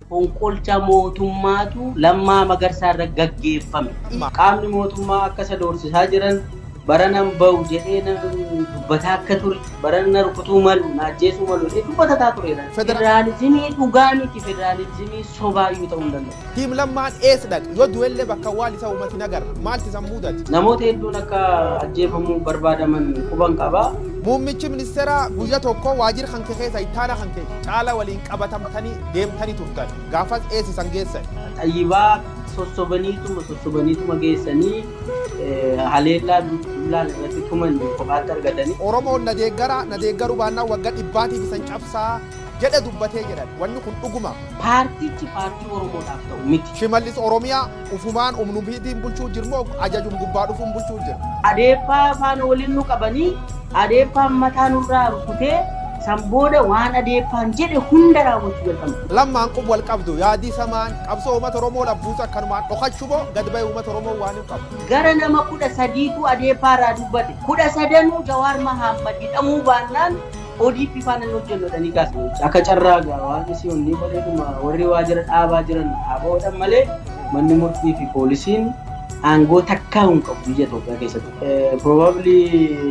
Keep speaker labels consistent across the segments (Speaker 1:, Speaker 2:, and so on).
Speaker 1: Fonqolcha mootummaatu Lammaa Magarsaa irra gaggeeffame. Qaamni mootummaa akka isa doorsisaa jiran baranan ba'u jedhee na dubbataa akka ture, barana na rukutuu malu, na ajjeesuu malu jedhee dubbatataa tureera. Federaalizimii dhugaa miti, federaalizimii sobaayyuu ta'uu hin danda'u. Team Lammaan eess
Speaker 2: dhaqe? Yoo du'ellee bakka awwaal isa uumat hin agarre. Maalt isan muudate? Namooti hedduun akka
Speaker 1: ajjeefamuu barbaadaman quban qaba. Muummichi ministeeraa
Speaker 2: guyya tokko waajira kanke keessa ittaana kanke Caala waliin qabatamtani deemtani turtan. Gaafas eessa isan geessani? Xayyibaa
Speaker 1: sossobaniituma sossobaniituma geessanii haleellaa dullaan irratti tuman kophaatti argatani. Oromoon na deeggara,
Speaker 2: na deeggaruu baannaan wagga dhibbaatiif isan cabsa jedhe dubbate jedhan. Wanni kun dhuguma? Paartichi paartii
Speaker 1: Oromoodhaaf ta'u miti. Shimallis Oromiyaa
Speaker 2: ufumaan umnubiitiin bulchuu jirmoo ajajum gubbaa dhufuun bulchuu jira? Adeeppaa faana
Speaker 1: waliin nu qabanii adeeppaan mataa nurraa rukutee san booda waan adeeppaan jedhe hunda raawwachuu jalqabna. Lammaan kun wal qabdu.
Speaker 2: Yaadii samaan qabsoo uummata Oromoo labbuutu akkanumaan dhokachu moo gad bahee uummata Oromoo waan hin qabu? Gara nama kudha
Speaker 1: sadiitu adeeppaa irraa dubbate. Kudha sadanuu Jawaar Mahaammad hidhamuu baannaan ODP faana hin hojjennu jedhanii kaasaniiru. Akka carraa gaa waaqni si onnii godheetuma warri waajjira dhaabaa jiran ABO'dhan malee manni murtii fi poolisiin aangoo takkaa hin qabu biyya Itoophiyaa keessatti. Probably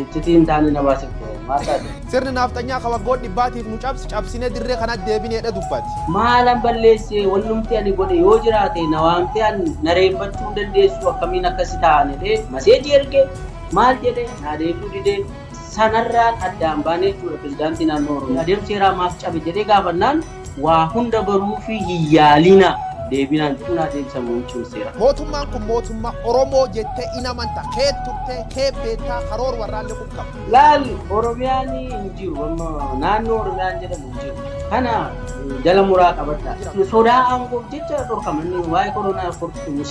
Speaker 1: iccitii hin taane na baasifte maal taate? Sirni
Speaker 2: naafxanyaa kan waggoota dhibbaatiif nu cabse cabsinee dirree kanatti deebineedha dubbate. Maalan balleessee
Speaker 1: wannumti ani godhe yoo jiraate na waamtee an na reeffachuu hin dandeessu akkamiin akkasi ta'an jedhee maseejii erge maal jedhe naa deebi'uu didee Sanarraan addaan baanee jechuudha pirezidaantii naannoo Oromiyaa. Adeemsi seeraa maaf cabe jedhee gaafannaan waa hunda baruufii hin yaalinaa deebinaan jechuun adeemsa muummichi seeraa. Mootummaan kun mootumma
Speaker 2: Oromoo jettee in amanta keet turte keet beektaa karoor warraallee qub qabda. Laal Oromiyaan
Speaker 1: hin jiru amma naannoo Oromiyaan jedhamu hin jiru kana jala muraa qabadhaa. Sodaa aangoof jecha dhorkaman waa'ee koronaa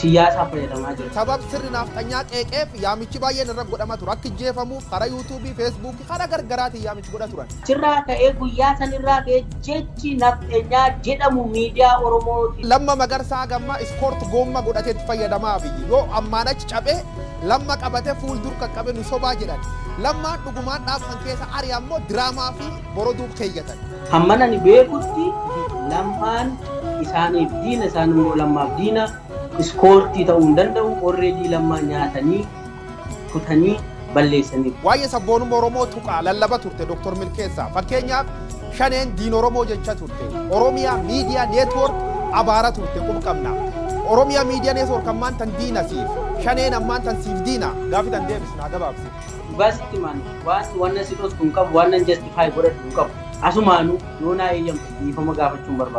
Speaker 1: siyaasaa fayyadamaa jira. Sabab sirni naafxanyaa
Speaker 2: qeeqeef yaamichi baay'een irra godhama ture. Akka ijjeefamuuf karaa yuutuubii, feesbuukii, karaa gargaraatiin yaamichi godha turan. Achirraa ka'ee guyyaa
Speaker 1: sanirraa ka'ee jechi nafxenyaa jedhamu miidiyaa Oromootiin. Lamma Magarsaa haga
Speaker 2: ammaa iskoort goomma godhatee itti fayyadama Abiyyi. Yoo ammaan achi caphee Lamma qabate fuul dur qaqqabe nu sobaa jedhan. Lammaan dhugumaan dhaaba san keessa ari'an moo diraamaa fi. boroduu keeyyatan. Hamman ani
Speaker 1: beekutti Lammaan isaaniif diina, isaan immoo Lammaaf diina. Iskoortii ta'uu hin danda'u. Already Lammaa nyaatanii, kutanii, balleessaniiru. Waa'ee sabboonumma
Speaker 2: Oromoo tuqaa, lallaba turte Dr. Milkeessaa. Fakkeenyaaf Shaneen diina Oromoo jecha turte. Oromia Media Network abaara turte qub qabna. Oromia Media Network ammaan tan diina siif. Shaneen ammaan tan siif diina. Gaaffii tan deebisna gabaabsi. Dhugaa sitti himaan
Speaker 1: wanti wanna si dhosku hin qabu wannan justify godhadhu hin qabu. Asumaanuu yoo naa eeyyamte dhiifama gaafachuun barbaada.